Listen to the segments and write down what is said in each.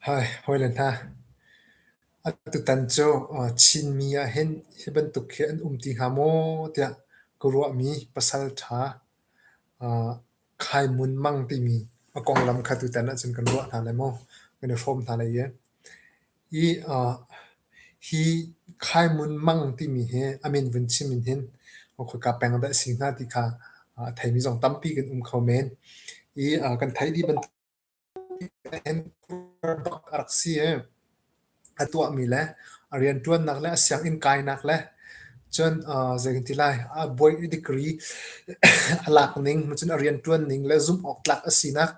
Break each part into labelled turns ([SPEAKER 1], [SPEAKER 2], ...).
[SPEAKER 1] Hawi le hna, atutan cu Chinmi ahhin hi bantuk hi an um ti hnga maw tiah ka ruahmi pasalṭha Khai Mun Mang timi a konglam kha tutan ahcun kan ruah hna lai maw? Kan i hrawm hna lai i. Hi Khaihmun mang timi hi a min vun chim in hin khoika peng dah a si hnga ti kha a theimi zong tampi kan um kho men. Kan theih dih bantukin a rak si i a tuahmi le a rianṭuannak le a sianginn kainak le cun zei kan ti lai a degree a lak ning cun a rianṭuan ning le zumh awk tlak a sinak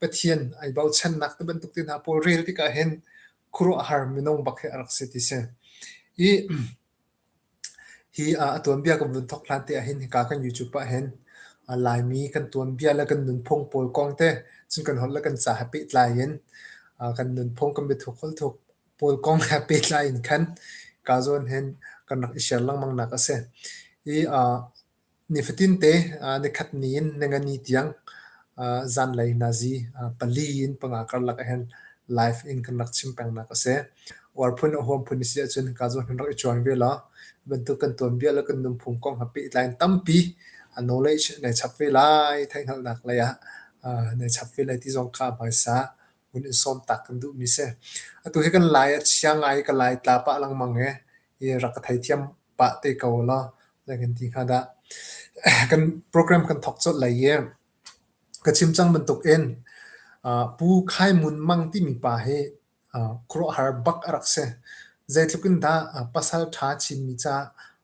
[SPEAKER 1] Pathian ai bochannak te bantuk te hna pawl rel tik ah hin khuaruahhar minung bak hi a rak si ti si. I hi a tuanbia kan vun thok hlan te ah hin hika kan YouTube ah hin Laimi kan tuanbia le kan nunphung pawl kong te cun kan holh le kan ca ha pehtlai in kan nunphung kan biathuk holh thuk pawl kong he pehtlai in khan ka zawn hin kan rak i share lengmang nak a si. I Nifatinte nikhat ni in Ningani tiang zanlei nazi pali in panga karlak ahhin live in kan rak chim pengnak a si. Uar phun a huam phun a si ahcun hika zong hin rak i cuang ve law bantuk kan tuanbia le kan nunphung kong ha pehtlai in tampi knowledge nei chap ve lai theihhngalhnak lei ah nei chap ve lai ti zong kha a hmaisa hun in sawm taak kan duhmi a si. Atu hi kan lai a chia ngai i ka lai tla pah lengmang i rak ka theithiam. pah te ko law lai kan ti hnga dah. kan program kan thok colh lai i ka chim cang bantuk in uh, pu khai mun mang timi pa hi uh, khuaruahhar bak a rak si zeitluk in dah uh, pasal tha chinmi ca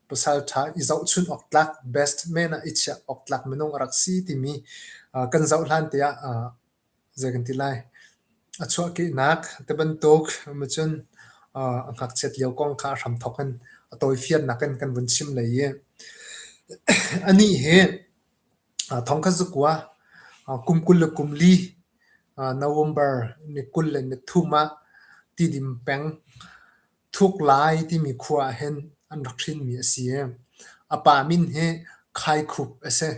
[SPEAKER 1] pasal tha i zoh chun awk tlak best men a i chiah awk tlak minung a rak si timi uh, kan zoh hlan te ah uh, Zei kan ti lai? A chuahkehnak te bantuk ma cun aa ngakchiat lio kong kha a hramthawk in a tawifiannak in kan vun chim lei i anih hi thongkhat zakua kum kul le kum li November ni kul le ni thum ah tidim peng Thuklai timi khua ah hin an rak hrinmi a si i a pa min hi Khaikhup a si.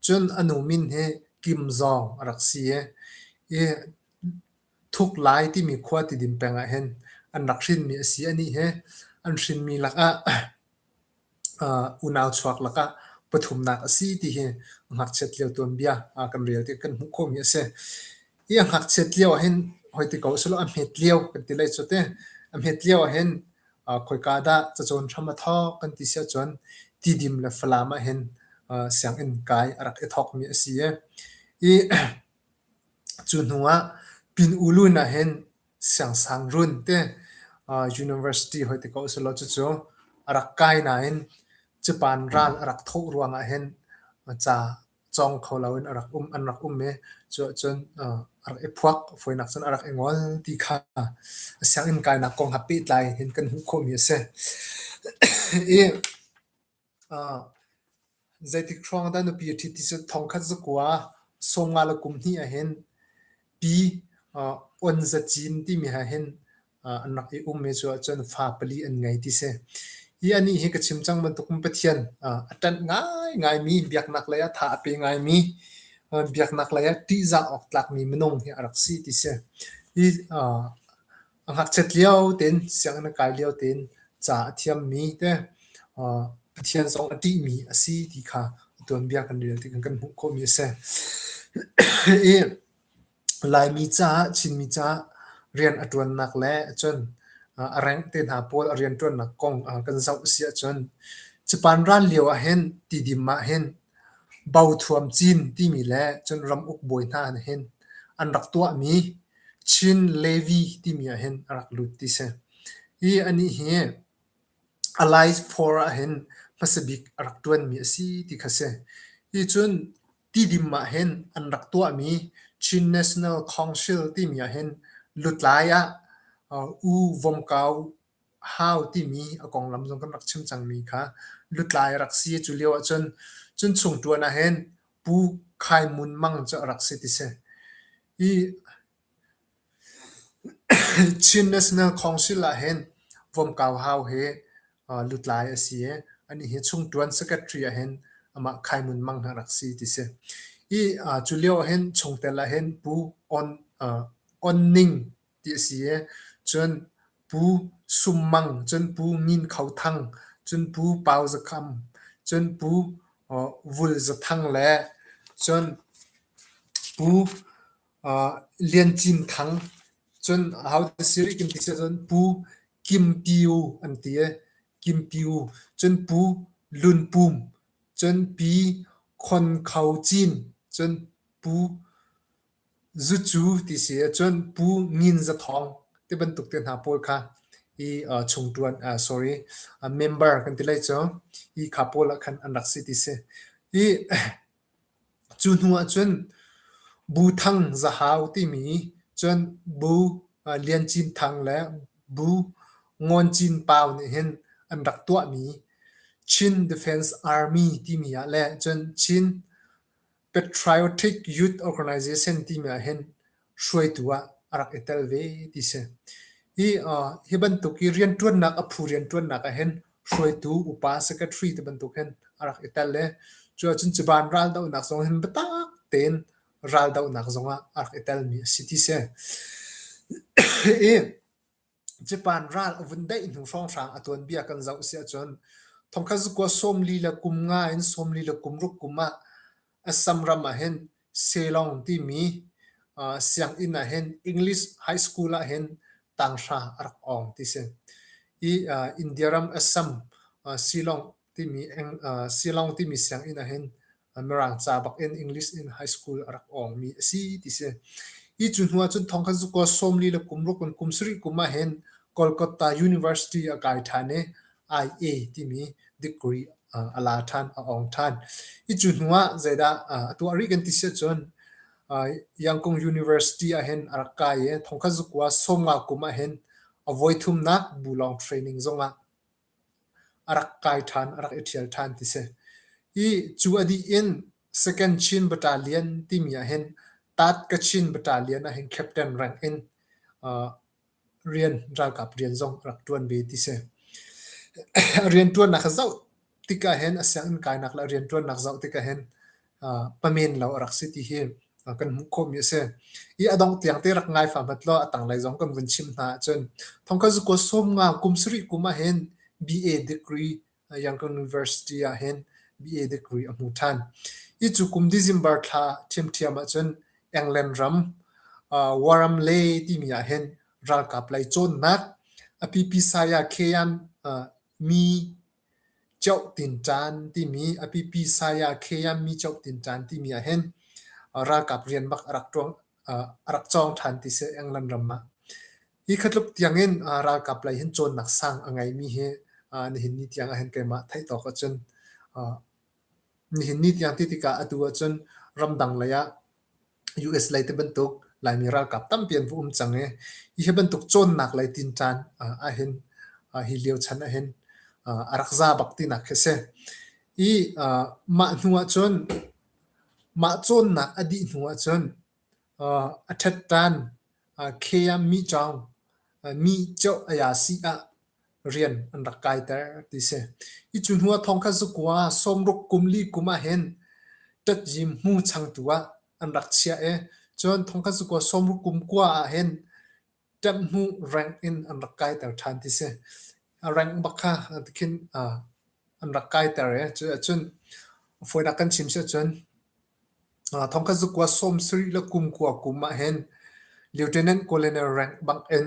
[SPEAKER 1] Cun a nu min hi Kim Zawng a rak si i i Thuklai timi khua tidim peng ah hin an rak hrinmi a si. Anih hi an hrinmi lakah unau chuak lakah pathumnak a si ti hi ngakchiat lio tuanbia kan rel ti kan hmuh khawhmi a si. Hi a ngakchiat lio ahhin hoi ti ko selaw a hmet lio kan ti lai cu teh. A hmet lio ahhin khoika dah cacawn hram a thawk kan ti si ahcun tidim le falam ahhin sianginn kai a rak i thawkmi a si i cu hnuah pin ulun ahhin siangsang run te university hoi te ko a si lo. Cucu a rak kai nain cupan ral a rak thawh ruangah hin ca cawng kho loin a rak um an rak um i cuah cun a rak i phuak fawinak cun a rak i ngol ti kha a sianginn kainak kong ha pehtlai in kan hmuh khawhmi a si. I Zeitik hrawng dah nupi a ṭhit ti cu thongkhat zakua sawmnga le kum hnih ah hin pi on zacin timi ha hin an rak i ummi cu ahcun fa pali an ngei ti si. Hi anih hi ka chim cang bantuk in Pathian a ṭanh ngaingaimi, biaknak lei ah tha a pe ngaimi, biaknak lei ah ṭihzah awk tlakmi minung hi a rak si ti si. Hi A ngakchiat lio tein sianginn a kai lio tein ca a thiammi te Pathian zong a ṭihmi a si ti kha a tuanbia kan rel tikah kan hmuh khawhmi a si. Hi Laimi caah Chinmi caah rian a ṭuannak le cun a rank te hna pawl a rian ṭuannak kong kan zoh a si ahcun Japan ran lio ahhin tidim ahhin Bauthuam cin timi le cun ramuk bawi hna nih hin an rak tuahmi Chin Levy timi ah hin a rak lut ti si. Hi anih hi Allied Four ah hin hmasa bik a rak ṭuanmi a si ti kha si. Hi cun tidim ah hin an rak tuahmi Chin National Council timi ah hin lutlai ah U Vom Kau hau timi a konglam zong kan rak chim cangmi kha lutlai rak si cu lio ahcun cun chung ṭuan ah hin Pu Khai Mun Mang cu a rak si ti si. Hi Chin National Council ah hin Vom Kau Hau hi uh, lutlai a si i anih hi chung ṭuan secretary ah hin amah Khai Mun Mang ha rak si ti si. Hi uh, cu lio hin chungtel ah hin Pu On uh, On Ning ti a si i cun Pu Sum Mang, cun Pu Ngun Kho Thang, cun Pu Pau Za Kham, cun Pu Vul Za Thang le cun Pu Lian Cin Thang, cun ho ti si rih kan ti si cun Pu Kim Pyu an ti i Kim Pyu, cun Pu Lun Pum, cun Pi Khon Kho Cin, cun Pu Zucu ti si ahcun pu ngin zathawng ti bantuk te hna pawl kha hi chung ṭuan sorry member kan ti lai cu hi kha pawl ah khan an rak si ti si. Hi cu hnu ahcun bu thang zahau timi cun bu lian cin thang le bu ngawn cin pau nih hin an rak tuahmi Chin Defence Army timi ah le cun Chin Patriotic Youth Organization timi ah hin hruaitu ah a rak i tel ve ti si. Hi uh, hi bantuk i rianṭuannak a phu rianṭuannak ah hin hruaitu upa secretary te bantuk hin a rak i tel i cu ahcun ciban raldohnak zong hin biatak tein raldohnak zong ah a rak i telmi a si ti si. Hi Japan ral a vun daih hnu hrawnghrang a tuanbia kan zoh si ahcun thongkhat zukua sawmli le kum nga in sawmli le kum ruk kum ah Assam ram ah hin Selong timi uh, sianginn ah hin English high school ah hin tanghra a rak ong ti si. I uh, India ram Assam uh, Shillong timi Shillong timi sianginn ahhin Mirang ca bakin English in high school a rak awngmi a si ti si. Hi cu hnu ahcun thong kan zuko sawmli le kumruk in kum sarih kum ahhin Kolkata University a kai ṭhan i IA timi degree a la ṭhan, a awng ṭhan. Hi cu hnu ah zeidah a tuah rih kan ti si ahcun Yangon University ahhin a rak kai i thong kan zuko sawmnga kum ahhin a voithumnak bu lawng training zong ah A rak kai ṭhan, a rak i ṭhial ṭhan ti si. Ih, cu a dih in Second Chin Bata Lian timi ahhin Tat-Kachin Bata Lian ahhin captain rank in uh, rian, ralkap rian zong a rak ṭuan ve ti si. rianṭuannak a zoh tik ahhin a sianginn kainak le a rianṭuannak zoh tik ahhin pamen lo a rak si ti hi kan hmuh khawhmi a si. I a dongh tiang te rak ngai famat law a tanglei zong kan vun chim hna ahcun thongkhat zuko sawmnga kum sarih kum ahhin BA degree Yangon University ahhin BA degree a hmu ṭhan. I cu kum December thla ṭhiamṭhiam ahcun England ram Warramley timi ahhin ralkap lei cawnnak a pipi saya Kyan Mi Cohtin caan timi a pipi saya Kheya mi cohtin caan timi ahhin ralkap rian bak a rak ṭuan a rak cawng ṭhan ti seh England ram ah. Hi khatluk tiangin ralkap lei hin cawnnak sang a ngeimi hi nihin ni tiang ahhin keimah theih tawk ahcun Nihin ni tiang ti tikah atu ahcun ramdang lei ah US lei ti bantuk Laimi ralkap tampi an va um cang i hi bantuk cawnnak lei tin caan ahhin hi lio chan ahhin a rak za bak tinak khi a si. I mah hnu ahcun mah cawnnak a dih hnu ahcun a ṭhet ṭan Khe ah mi cawng mi Cioh Ayasi ah rian an rak kaiter ti si. Hi cu hnu ah thongkhat zakua sawmruk kum li kum ah hin ṭatzim hmu changtu ah an rak chiah i cun thongkhat zakua sawmruk kum kua ah hin ṭamh hnu rank in an rak kaiter ṭhan ti si. A rank bak kha tikhin ah an rak kaiter i cu ahcun fawinak kan chim si ahcun ah thongkhat zakua sawm sarih le kum kua kum ah hin Lieutenant Colonel rank bang in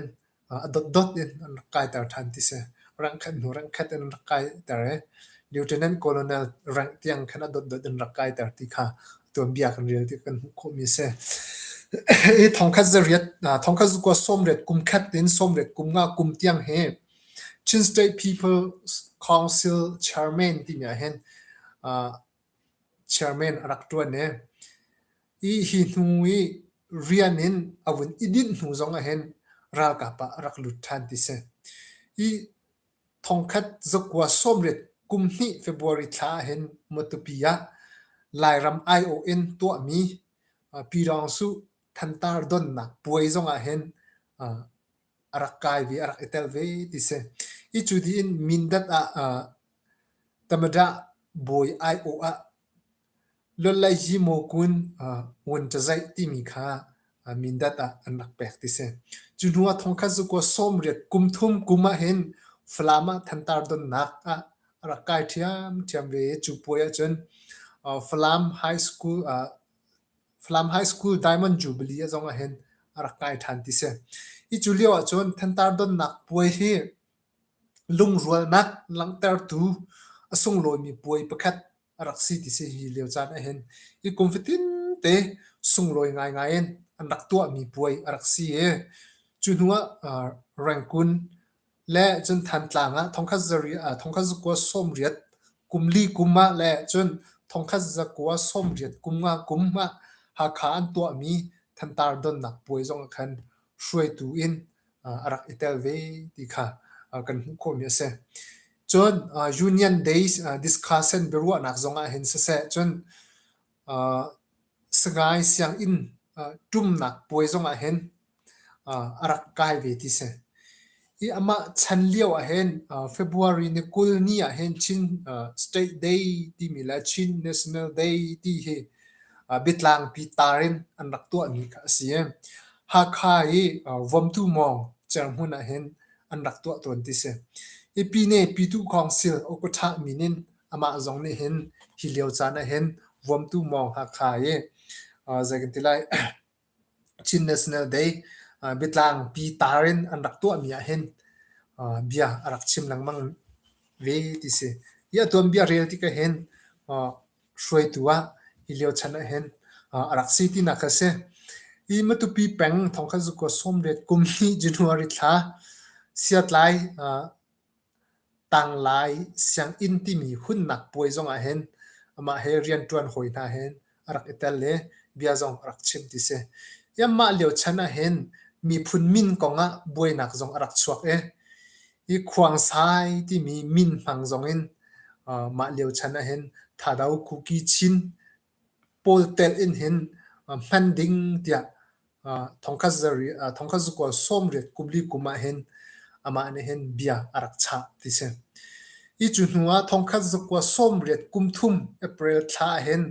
[SPEAKER 1] a dotdot in an rak kaiter ṭhan ti si. Rangkhat hnu rangkhat in an rak kaiter i Lieutenant Colonel rank tiang khan a dotdot in rak kaiter ti kha tuanbia kan rel ti kan hmuh khawhmi a si. Hi thongkhat za riat, thongkhat za kua sawmriat kum khat in sawmriat kum nga kum tiang hi Chin State People's Council Chairman timi ahhin Chairman a rak ṭuan i hi hnu i rian in a vun i dinh hnu zong ahhin ralkap ah a rak lut ṭhan ti si. Hi thongkhat zakua sawmriat kum hnih February thla ahhin Matupi ah Lairam aiawh in tuahmi Pi Dawng Suh thantar donnak puai zong ahhin a rak kai ve, a rak i tel ve ti si. I cu dih in Mindat ah uh, Tamadah bawi aiawh ah Lolaiyi Mokun uh, Ngun Cazaih timi kha uh, Mindat ah an rak pek ti si. Cu hnu ah thong khat cu kuwa sawmriat kum thum kum ah hin Falam ah thantar donnak ah a rak kai ṭhiam ṭhiam ve. Cu puai ah cun uh, Falam High School uh, Falam High School Diamond Jubilee ah zong ahhin a rak kai ṭhan ti si. Hi cu lio ahcun Thantar donnak puai hi lungrualnak langhtertu a sunglawimi puai pakhat a rak si ti si hi lio caan ahhin hi kum fatin te sunglawi ngaingai in an rak tuahmi puai a rak si i cu hnu ah Rangoon le cun Thantlang ah thongkhat zari uh, thongkhat zakua sawmriat kum li kum ah le cun thongkhat zakua sawmriat kum nga kum ah Hakha an tuahmi thantar donnak puai zong ah khan hruaitu in uh, a rak i tel ve ti kha uh, kan hmuh khawmi a si. Cun uh, Union Days uh, discussion biaruahnak zong ah hin siseh cun Sangai sianginn ṭumnak puai zong ahhin a rak kai ve ti si. I amah chan lio ahhin February ni kul ni ahhin Chin State Day timi le Chin National Day ti hi biatlangpi tar in an rak tuahmi kha a si i Hakha i Vomtu Mawng cerhmun ahhin an rak tuah tawn ti si. I Pyine Pyitukhawng Sil Okawṭhah min in amah zong nih hin hi lio caan ah hin vuamtu mawng Hakha i zei kan ti lai Chin National Day biatlang pi tar in an rak tuahmi ah hin bia a rak chim lengmang ve ti si. Hi a tuanbia rel tikah hin hruaitu ah hi lio chan ah hin a rak si tinak kha si. Hi matupi peng thongkhat zukua sawmlet kum hnih January thla siatlai Tanglai sianginn timi hunnak puai zong ah hin amah he rianṭuan hawi hna he a rak i tel i bia zong a rak chim ti si. I anmah lio chan ah hin miphun min kong ah buainak zong a rak chuak i i khuangsai timi min hmang zong in mah lio chan ah hin Thado Kuki Chin Pawl telh in hin hman ding tiah thongkhat zakual sawmriat kumli kum ah hin amah nih hin bia a rak chah ti si. Hi cu hnu ah thongkhat zakual sawmriat kum thum April thla ah hin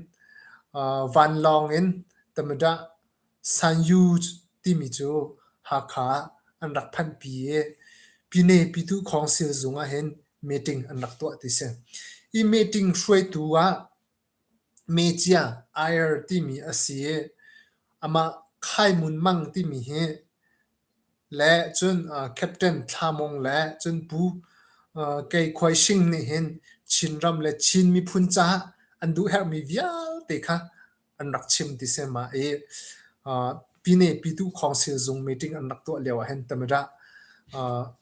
[SPEAKER 1] vanlawng in Tamadah Sanyuj timi cu Hakha ah an rak phanhpi i Pyine Pyituh Khawngsil zung ah hin meeting an rak tuah ti si. Hi meeting hruaitu ah Mecia air timi a si i amah Khaimun Mang timi hi le cun Captain Thla Mung le cun Pu Kei Khuai Shing nih hin Chinram le Chin miphun caah an duhherhmi vialte kha an rak chim ti sehmah i Pyine Pyituh Khawng Silzung meeting an rak tuah lio ahhin Tamarah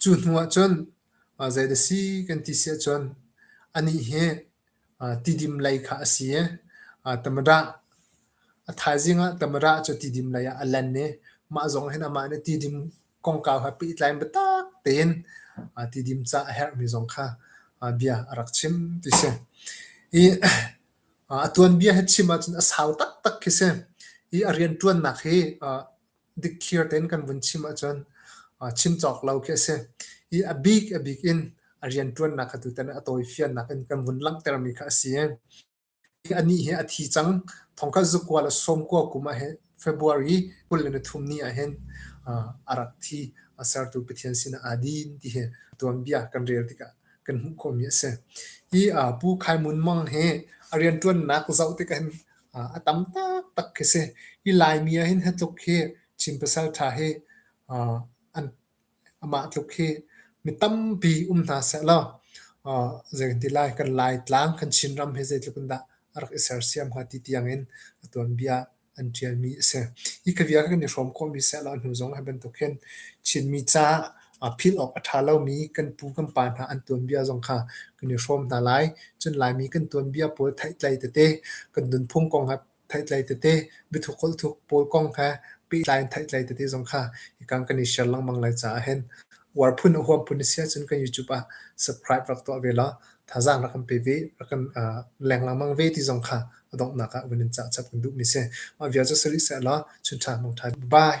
[SPEAKER 1] Cu hnu ahcun zei na si kan ti si ahcun anih hi tidim lei kha a si i Tamarack a thaizing ah Tamarack cu tidim lei ah a lan i mah zong hin amah nih tidim kongkau he pehtlain biatak tein tidim ca a herhmi zong kha bia a rak chim ti si. Hi a tuanbia hi chim ahcun a sau taktak khi si. Hi a rianṭuannak hi dikthliar tein kan vun chim ahcun chim cawk lo khi a si. I a bik a bik in a rianṭuannak kha tutan a tawifiannak in kan vun langhtermi kha a si. Anih hi a thi cang. Thongkhat zukual a sawmkua kum ah hi February kul le nithum ni ah hin a rak thi. A sertu Pathian sinah adin ti hi tuanbia kan rel tikah kan hmuh khawhmi a si. Hi Pu Khai Mun Mang hi a rianṭuannak zoh tikah hin a tam taktak khi si. Hi Laimi ahhin hi tluk hi Chin pasalṭha hi amah tluk hi mi tampi um hna sehlaw zeikanti lai kan Laitlang kan Chinram hi zeitluk in dah a rak i sersiam hnga ti tiangin a tuanbia an ṭialmi a si. Hi ka bia kha kan i hrawm khawhmi sehlaw hnu zong hi bantuk hin Chinmi ca a philh awk a ṭha lomi kan pu kan pa hna an tuanbia zong kha kan i hrawm hna lai. Cun Laimi kan tuanbia pawl theihtlei tete, kan nunphung kong he theihtlei tete, biathuk holhthuk pawl kong he pehtlai in theihtlei tete zong kha hikang kan i share lengmang lai caah hin uar phun a huam phun a si ahcun kan YouTube ah subscribe rak tuah ve law thazaang rak kan pe ve, rak kan leng lengmang ve ti zong kha a donghnak ah vun in cah chap kan duhmi si. Mah vial cu sari seh law, chun ṭha mong ṭha. Bye!